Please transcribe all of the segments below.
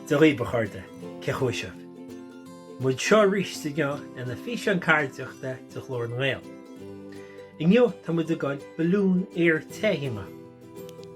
Dia dhaoibh a chairde, cén chaoi a bhfuil sibh? Muid anseo aríst inniu lena físeán ceardaíochta de Ghlór na nGael. Inniu tá muid ag goil balún aer te a dhéanamh.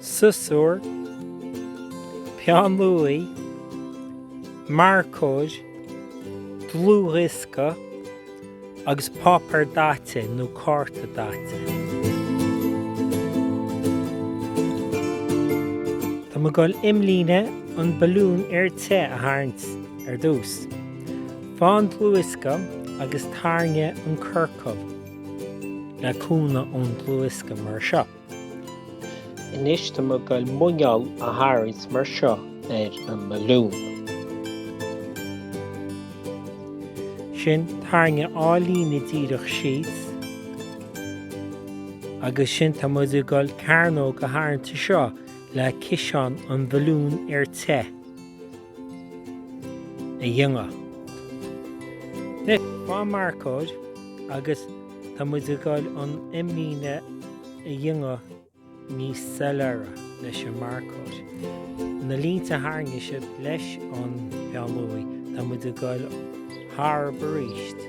siosúr, peann luaí, marcóir, dlúthdhiosca agus páipéar daite nó cárta daite. Tá mé ag dul imlíne an balún aer te a tharraingt ar dtús. Faigh an dlúthdhiosca agus tarraing an ciorcal le cúnamh ón dlúthdhiosca mar seo. Anois tá mé ag dul muineál a tharraingt mar seo ar an mbalún. Ansin tarraing dhá líne díreach síos. Agus ansin tá muid ag dul cearnóg a tharraingt anseo le ciseán an bhalún aer te. a dhéanamh. Anois, faigh marcóir agus tá muid ag dul an imlíne a dhéanamh níos soiléire leis an marcóir. Na línte a tharraing sibh leis an bpeann luaí, tá muid ag dul tharstu aríst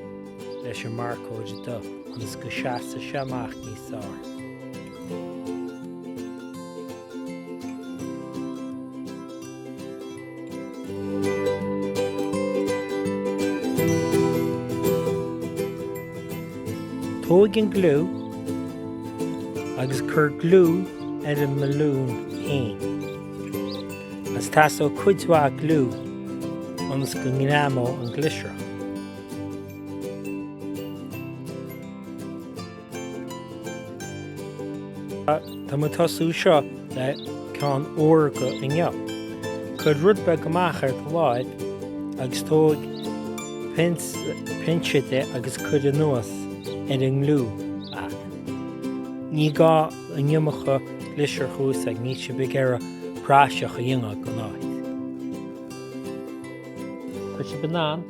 leis an marcóir dubh ionas go seasfaidh sé amach níos fearr. Tóig an gliú agus cuir gliú ar an mbalún fhéin. Agus teastóidh cuid mhaith gliú ionas go ngreamóidh an glitter. Tá mé ag tosú anseo le ceann órga inniu. Cuir rud beag amach ar do láimh agus tóig pinse de agus cuir anuas ar an ngliú é. Ní gá an iomarca glitter a úsáid, níl sibh ag iarraidh praiseach a dhéanamh den áit. Tá sibh in ann.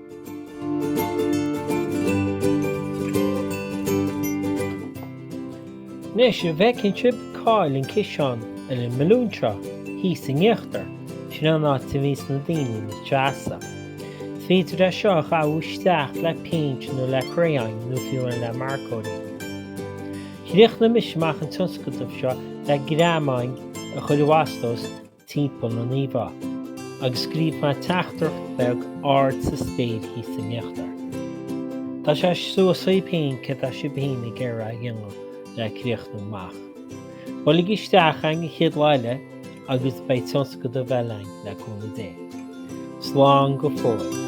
Anois an bhfeiceann sibh cá'il an ciseán ar an mbalún seo thíos in íochtar, sin an áit a mbíonns na daoine ina seasamh. Is féidir é seo a dhathú isteach le péint nó le crayon nó fiú amháin le marcóirí. Chríochnaigh mise amach an tionscadal seo le greamáin a chur i bhfastós, timpeall na n-íomhá agus scríobh mé teachtaireacht bheag ar an taobh thíos in íochtar. Tá sé suas daoibh féin céard atá sibh féin ag iarraidh a dhéanamh le críochnú amach. Buailigí isteach an chéad lá eile agus beidh tionscadal eile againn, le cúnamh Dé. Slán go fóill.